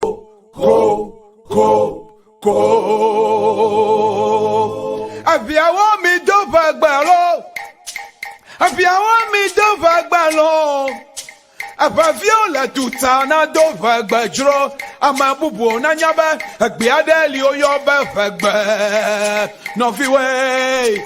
ko ko ko eviawo mi do va gbalo eviawo mi do va gbalo eveviwo le tuta na do va gbedzro ame bubu nanya be egbe aɖe li woyɔ be vegbe nɔviwoe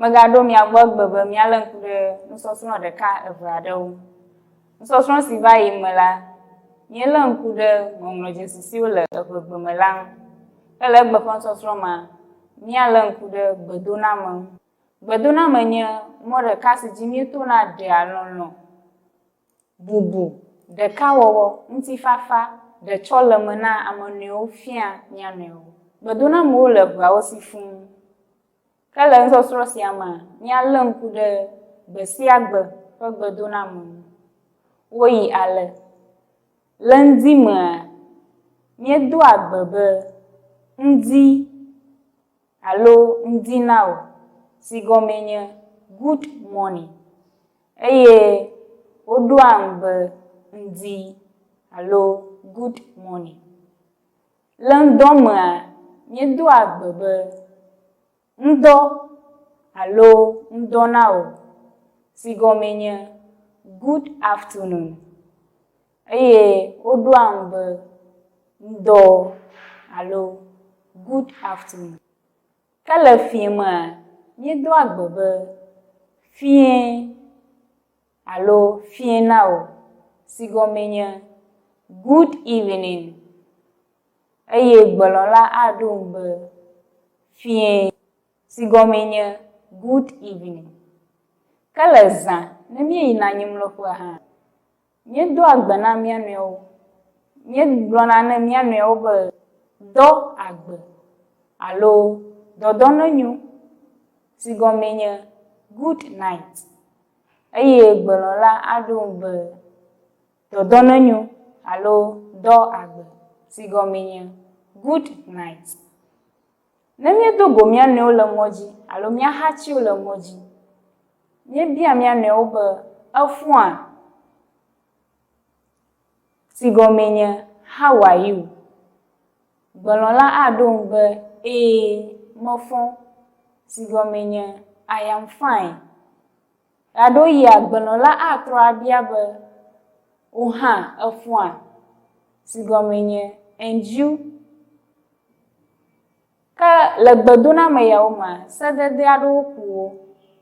Megaɖo mia gbɔ egbe be míalé ŋku ɖe nusɔsrɔ̃ ɖeka eve aɖewo ŋu. Nusɔsrɔ̃ si va yim me la, míelé ŋku ɖe ŋɔŋlɔ dzesi siwo le eŋegbe me la ŋu, ke le egbe ƒe nusɔsrɔ̃ mea, míalé ŋku ɖe gbedoname ŋu. Gbedoname nye mɔ ɖeka si dzi míetona ɖea lɔlɔ̃, bubu, ɖekawɔwɔ, ŋutifafa, ɖetsɔleme na ame nɔewo fiaa mía nɔewo. Gbedonamewo le ʋuawo si fũu. Ke le nusɔsrɔ̃ sia mea, míalé ŋku ɖe gbe sia gbe ƒe gbedoname ŋu. Woyi ale, Le ŋdi mea, míedoa gbe be, Ŋdi alo Ŋdi na wò, si gɔmee nye Good Morning, eye woɖoam be Ŋdi alo Good Morning. Le ŋdɔ mea, míedoa gbe be, Ŋdɔ alo Ŋdɔ na wò, si gɔmee nye Good afternoon. Eye woɖoa ŋu be, Ŋdɔ alo Good afternoon. Ke le fiẽ mea, míedoa gbe be, Fiẽ. Alo fiẽ na wò, si gɔmee nye, Good evening. Eye gbelɔ̃la aɖo eŋu be, Fiẽ, si gɔmee nye, Good evening. Ke le zã ne míeyina anyimlɔƒea hã, míedoa gbe na mía nɔewo. Míegblɔna ne mía nɔewo be, Dɔ agbe! alo Dɔdɔ nenyo! si gɔmee nye, Good night. Eye gbelɔla aɖo ŋu be, Dɔdɔ nenyo alo Dɔ agbe, si gɔmee nye Good night. Ne míedo go mía nɔewo le ŋɔdzi alo mía hatiwo le ŋɔdzi, míebia mía nɔewo be, Efũa? si gɔmee nye How are you? Gblɔla aɖo eŋu be, Ee, mefɔ, si gɔmee nye I am fine. Ɣeaɖewoɣia gblɔla atrɔ abia be, Wò hã efɔa? si gɔmee nye And you? Ke le gbedoname yawo mea, sedede aɖewo ku wo,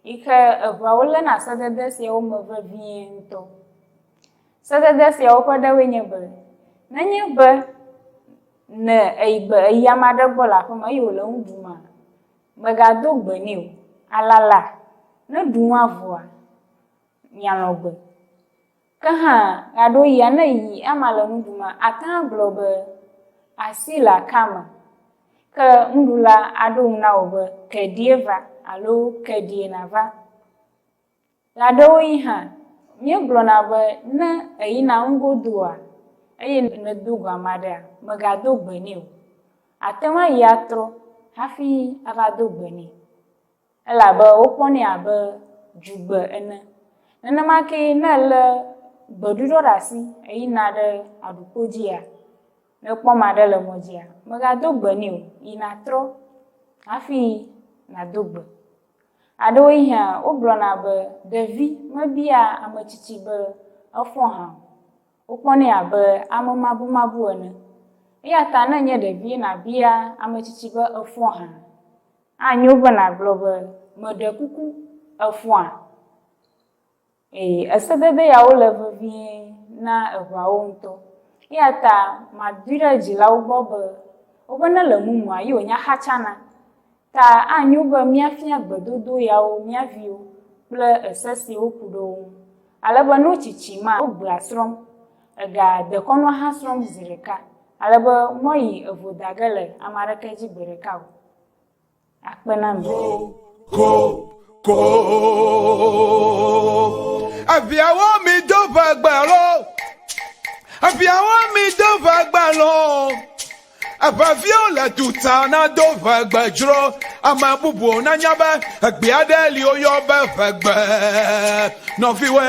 yi ke eŋuawo léna sedede siawo me vevie ŋutɔ. Sedede siawo ƒe ɖewoe nye be, nenye be ne eyi be eyi ame aɖe gbɔ le aƒeme eye wòle nu ɖumea, mègado gbe nɛ o, alala, ne ɖu nua vɔa, mialɔ̃ gbe. Ke hã, ɣeaɖewoɣia ne yi ema le nu ɖum ate ŋu agblɔ be, Asi le aka me. Ke nuɖula aɖo ŋu na wò be, Ke ɖie va alo Ke ɖie nava. Ɣeaɖewoɣi hã, míegblɔna be ne èyina nugodoa eye nèdo go ame aɖea, mègado gbe nɛ o. Àte ŋu ayi atrɔ hafi ava do gbe nɛ. Elabe wokpɔnɛ abe dzugbe ene. Nenema kee ne èlé gbeɖuɖɔ ɖe asi heyina ɖe aɖukpo dzia, ne èkpɔ ame aɖe le mɔ dzia, mègado gbe nɛ o, yi nàtrɔ hafi nàdo gbe. Aɖewohĩa wogblɔna be ɖevi mebiaa ame tsitsi be efɔ hã o. Wokpɔnɛ abe amemabumabu ene. Eya ta ne ènye ɖevie nàbia ame tsitsi be efɔ hã. Anyo be nàgblɔ be, Meɖe kuku, èfɔa? Ee, esedede yawo le vevie na eŋawo ŋutɔ. Eya ta madui ɖe dzilawo gbɔ be woƒe ne le mumua ye wònya xatsana. Ta anyo be míafia gbedodo yawo mía viwo kple ese si woku ɖe wo ŋu, ale be no tsitsi ma wogbea srɔ̃m. Ega dekɔnua hã srɔ̃m zi ɖeka, ale be mɔyi evo dage le ame aɖeke dzi gbeɖeka o. akpe na mi. Ko, ko, eviawo mi do va gbalo, eviawo mi do va gbalo, eveviwo le tuta na do va gbedzro, ame bubuwo na nya be egbea ɖe li woyɔ be vegbe, nɔviwoe.